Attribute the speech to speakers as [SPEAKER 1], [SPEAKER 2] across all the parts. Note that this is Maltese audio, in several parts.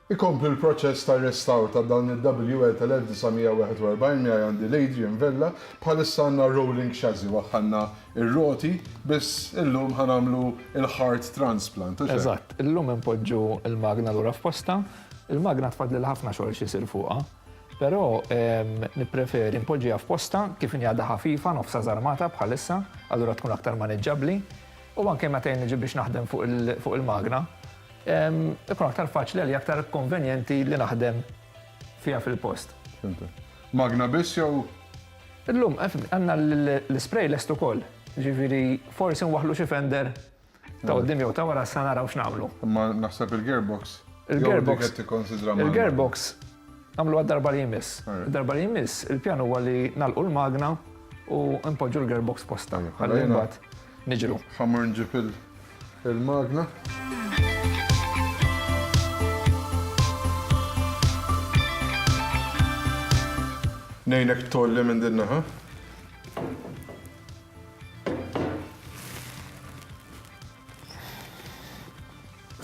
[SPEAKER 1] Ikompli l-proċess tar-restawr ta' dan il-WL tal-1941 miegħi għandi l-Adrian Vella, bħalissa għandna rolling chassis, waħħalna r-roti, biss illum ħa nagħmlu l-heart transplant, hux hekk? Eżatt, illum
[SPEAKER 2] inpoġġu l-magna lura f'postha, il-magna tfadlilha ħafna xogħol x'isir fuqha. Però nippreferi npoġġiha f'postha kif inhi għadha ħafifa nofsha żarmata bħalissa, allura tkun aktar maniġġabbli u anke meta jien niġi biex naħdem fuq il-magna ikun aktar faċli għalija aktar konvenjenti li naħdem fiha fil-post. Fimtek. Magna
[SPEAKER 1] biss jew? Illum
[SPEAKER 2] għandna l-ispray lest ukoll, jiġifieri forsi nwaħħlu xi fender Ta' qudiem jew ta' wara sa naraw x'nagħmlu. Imma naħseb
[SPEAKER 1] il-gearbox. Il-gearbox. Il-gearbox
[SPEAKER 2] nagħmlu għad-darba li jmiss. Darba li jmiss, il-pjan huwa li nagħlqu l-magna u npoġġu l-gearbox posta. Ħalli mbagħad niġru. Ħammur nġib
[SPEAKER 1] il-magna. Ngħinek tolli minn din naħa.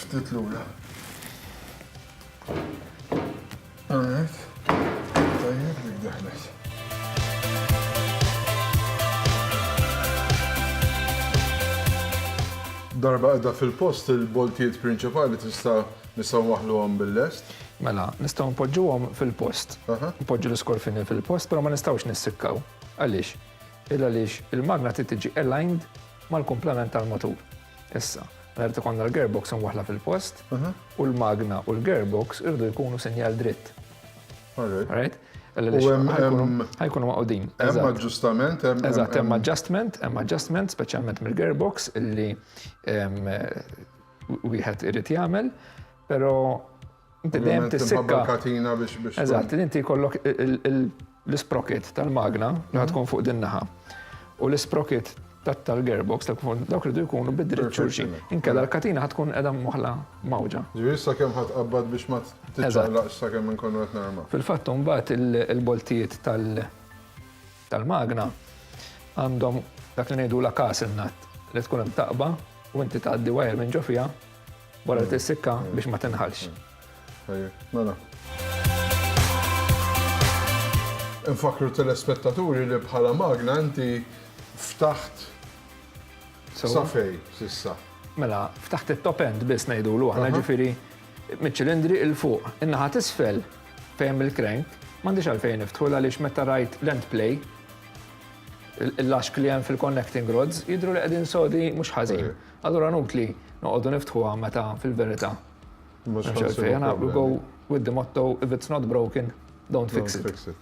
[SPEAKER 1] Ftit lura. Għanek, tajjeb dik daħlet. Darba għedha fil-post il-boltijiet prinċipali tista' nisaw waħlu għom bil-lest? Mela, nistaw
[SPEAKER 2] npoġġu għom fil-post. Npoġġu l-iskorfini fil-post, pero ma nistawx nissikkaw. Għalix? Illa għaliex il-magna trid tiġi aligned mal-kumplament tal-motur. Issa, mela jrid ikollna l-gearbox imwaħħla fil-post u l-magna u l-gearbox iridu jkunu sinjal dritt. Alright? Ħajkunu maqudin. Hemm aġġustament,
[SPEAKER 1] hemm. Eżatt, hemm
[SPEAKER 2] adjustment, hemm adjustment speċjalment mill-gearbox illi wieħed irid jagħmel, però Inti dejjem tissikka. katina biex biex.
[SPEAKER 1] Eżatt, inti jkollok
[SPEAKER 2] l-isprocket tal-magna li mhm. tkun fuq din naħa. U l-isprocket tal-gearbox tal-kufond dawk ridu jkunu bidri xulxin. Inkella l-katina tkun edha moħla mawġa. Ġifieri sa kemm ħadd
[SPEAKER 1] qabbad biex ma titlaqx sa kemm inkunu qed narma. Fil-fatt mbagħad
[SPEAKER 2] il-boltijiet tal- tal-magna għandhom dak li ngħidula castle nut li tkun hemm taqba u inti tgħaddi wire minn ġo fiha wara li mm. tissikka mm. biex ma tinħalx. Mm.
[SPEAKER 1] Mela. Infakru telespettaturi li bħala magna inti ftaħt safej sissa. Mela, ftaħt
[SPEAKER 2] it-top end biss ngħidulu aħna ġifieri Miċ-ċilindri 'l fuq. In-naħa t'isfel, fejn hemm il-crank, m'għandix għalfejn niftħu għaliex meta rajt l-end play, il-laxk li hemm fil-connecting rods jidhru li qegħdin sodi mhux ħażin. Allura nutli noqogħdu niftħuha meta fil-verità Mhux m'hemmx għalfejn. Aħna we go with the motto if it's not broken, don't fix it. Don't fix it.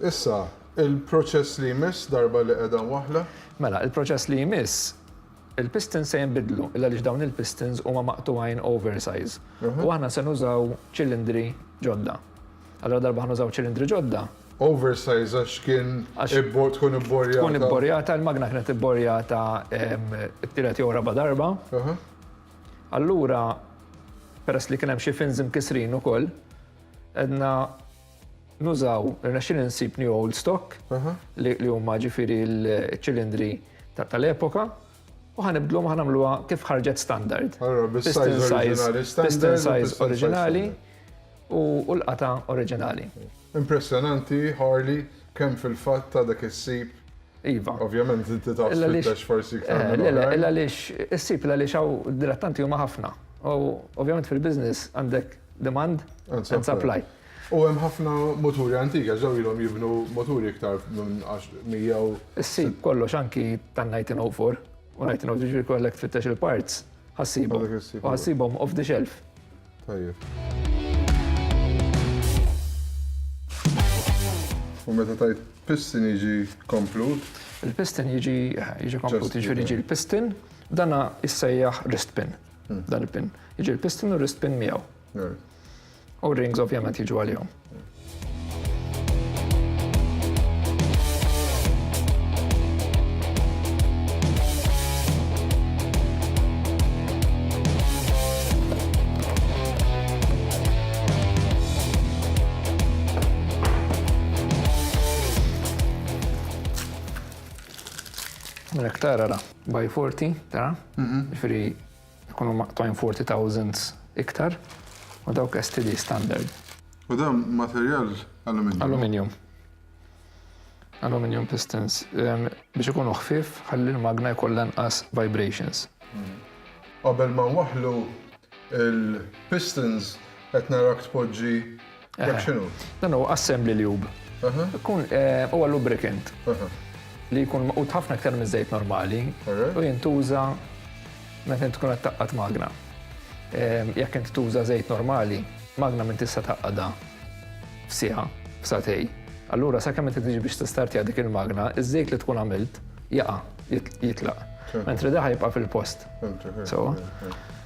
[SPEAKER 2] Issa,
[SPEAKER 1] il-proċess li jmiss darba li qiegħda waħla? Mela, il-proċess
[SPEAKER 2] li jmiss Il-pistons se jinbidlu illa għaliex dawn il-pistons huma maqtugħin oversize u aħna se nużaw ċilindri ġodda. Allura ladarba ħanużaw ċilindri ġodda. Oversize għax
[SPEAKER 1] kien tkun ibborjata. Tkun ibborjata, il-magna
[SPEAKER 2] kienet ibborjata t-tielet jew raba' darba. Allura peress li kien hemm xi fins imkissrin ukoll, għedna. Nużaw, irnexxieli nsib new old stock li huma ġifieri l-ċilindri tal-epoka u ħa nibdluhom ħa nagħmluha kif ħarġet standard. Allura bis-size oriġinali standard. Piston size oriġinali u l-qata oriġinali. Impressjonanti
[SPEAKER 1] Harley kemm fil-fatt għadha kif issib. Iva.
[SPEAKER 2] Ovvjament inti
[SPEAKER 1] taf tfittex forsi iktar. Le le, illa għaliex
[SPEAKER 2] issib illa għaliex hawn dilettanti huma ħafna. U ovvjament fil-business għandek demand and supply. U hemm ħafna
[SPEAKER 1] muturi antiga, ġew ilhom jibnu muturi iktar minn għax mija u. Issib kollox
[SPEAKER 2] anki tan-1904 u 1904 jiġri jkollek tfittex il-parts ħa ssibhom. U ħa ssibhom off the shelf. Tajjeb.
[SPEAKER 1] U meta tajt piston jiġi komplut? Il-piston jiġi
[SPEAKER 2] jiġi komplut, jiġifieri jiġi l-piston, dana issejjaħ wrist pin. Dan il-pin. Jiġi l-piston u wrist pin miegħu. U rings ovvjament jiġu għalihom. Mela, tara ra, by 40, tara? Mhm. Ġifiri, Ikunu maqtugħin forty thousands iktar u dawk STD standard. U dan
[SPEAKER 1] materjal aluminium? Aluminium.
[SPEAKER 2] Aluminium pistons. Biex ikunu ħfief ħalli l-magna jkollha inqas vibrations.
[SPEAKER 1] Qabel ma nwaħħlu l-pistons qed narak tpoġġi Dak x'inhu? Dan huwa assembly
[SPEAKER 2] lube. Kun huwa lubricant li jkun maqut ħafna aktar minn żejt normali u jintuża meta tkun qed taqqat magna. Jekk inti tuża żejt normali, magna minn tista' taqqada f'siegħa, f'satej. Allura sakemm inti tiġi biex tistartja dik il-magna, iż-żejt li tkun għamilt jaqa' jitlaq. Mentri daħ jibqa' fil-post. Sewa?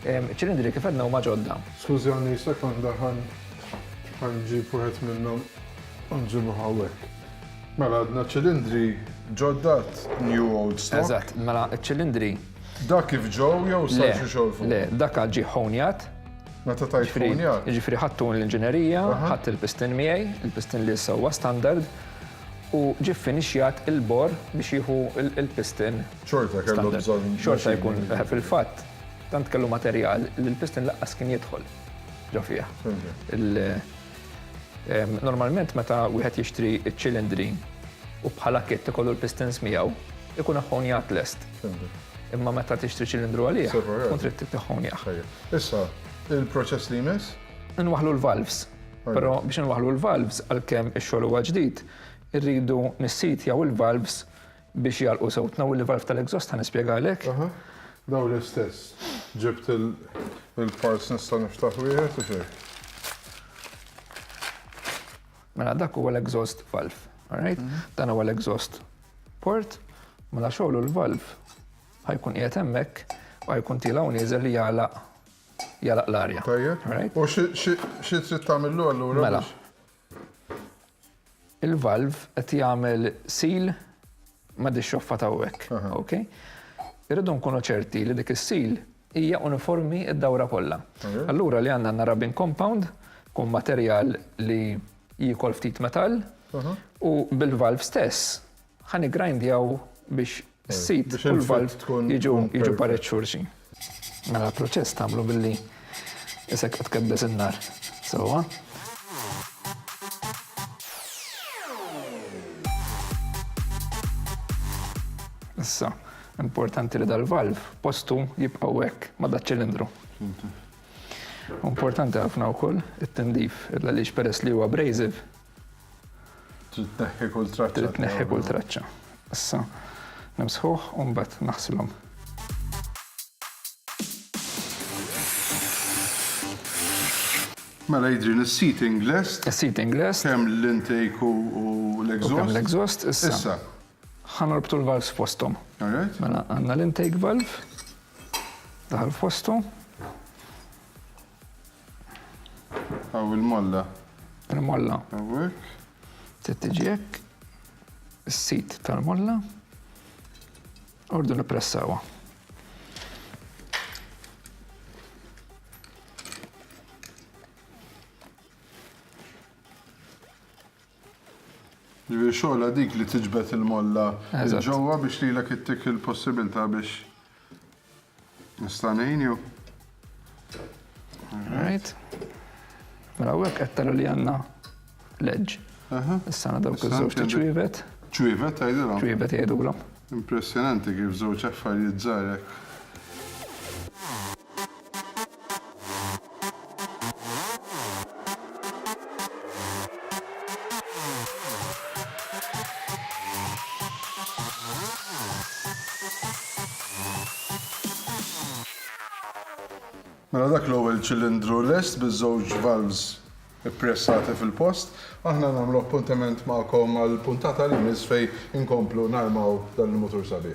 [SPEAKER 2] Iċ-ċilindri kif għedna huma ġodda. Skużani sekonda
[SPEAKER 1] ħan ħanġib wieħed minnhom u nġibu hawnhekk. Mela għadna ċilindri ġoddat new old stock. Eżatt, mela ċ-ċilindri.
[SPEAKER 2] Dak kif
[SPEAKER 1] ġew jew sarġu xogħol fuq? Le, dak għad ġie
[SPEAKER 2] ħonjat. Meta tajt
[SPEAKER 1] ħonjat? Ġifieri ħadtu
[SPEAKER 2] l-inġinerija, ħadd il-pistin miegħi, il-pistin li issa huwa standard, u ġie ffinixjat il-bor biex jieħu il-pistin Xorta
[SPEAKER 1] kellhom bżonn. Xorta jkun,
[SPEAKER 2] fil-fatt, tant kellu materjal li l-piston laqqas kien jidħol ġo fih. Normalment meta wieħed jixtri ċ-ċilindri u bħala kit ikollu l-pistons miegħu, ikun aħħonjat lest. Imma meta tixtri ċilindru għalih, tkun trid taħħonjah. Issa,
[SPEAKER 1] il-proċess li jmiss? Inwaħlu l-valves.
[SPEAKER 2] Però biex inwaħlu l-valves, għalkemm ix-xogħol huwa ġdid, irridu nissit jew il-valves Biex jgħalqu sew tnaw il-valve tal-exhaust ħa nispjegalek. Aha. Dawn
[SPEAKER 1] l-istess. Ġibt il-parts nista' niftaħ wieħed u xejn.
[SPEAKER 2] Mela dak huwa l-exhaust valve. Alright? Mhm. Dan huwa l-exhaust port, mela xogħlu l-valve ħajkun qiegħed hemmhekk u ħajkun tilaw nieżel li jagħlaq jagħlaq l-arja. Tajjeb. U
[SPEAKER 1] xi trid tagħmillu allura? Mela.
[SPEAKER 2] il-valv qed jagħmel seal ma' di xoffa ta' hekk. Ok? Irridu nkunu ċerti li dik is-seal hija uniformi id-dawra kollha. Allura li għandna għandna rubbing compound, kun materjal li jiekol ftit metall, u bil-valv stess Ħa niggrindjaw biex is-seed u l-valve jiġu pareġġ xulxin. Mela l-proċess tagħmlu billi isek u tkebbes in-nar sewwa. Issa, importanti li dal-valve postu jibqgħu hekk ma' daċ-ċilindru. Importanti ħafna wkoll it-tindif, għaliex peress li huwa abrasive,
[SPEAKER 1] Trid tneħħi kull traċċa. Trid tneħħi kull traċċa.
[SPEAKER 2] Issa nimsħuh u mbagħad naħsilhom.
[SPEAKER 1] Mela jidri l-seating list. Seating list. Kemm
[SPEAKER 2] l-intake
[SPEAKER 1] u l-exhaust. Kemm l-exhaust,
[SPEAKER 2] issa. Ħanorbtu l-valves fostom. Mela għanna l-intake valve. Daħal fostom.
[SPEAKER 1] Hawn il-molla. Il-molla.
[SPEAKER 2] Hawnhekk.
[SPEAKER 1] Se tiġi
[SPEAKER 2] hekk. Is-sit tal-molla. Ordu nippressawha.
[SPEAKER 1] Ġifieri xogħla dik li tiġbed il-molla ġewwa biex lilek ittik il-possibilità biex Nista' ngħinu.
[SPEAKER 2] Right. Mela hawnhekk qed tara li għandna leġġ. Issa għandna dawk iż-żewġ ta' ċwievet. Ċwievet tgħidilhom?
[SPEAKER 1] Ċwievet jgħidulhom.
[SPEAKER 2] Impressjonanti kif
[SPEAKER 1] żewġ affarijiet żgħar hekk. Mela dak l-ewwel ċilindru lest biż-żewġ valves ippressati fil-post. Aħna nagħmlu appuntament magħkom għal puntata li jmiss fejn inkomplu narmaw dan il-mutur sabiħ.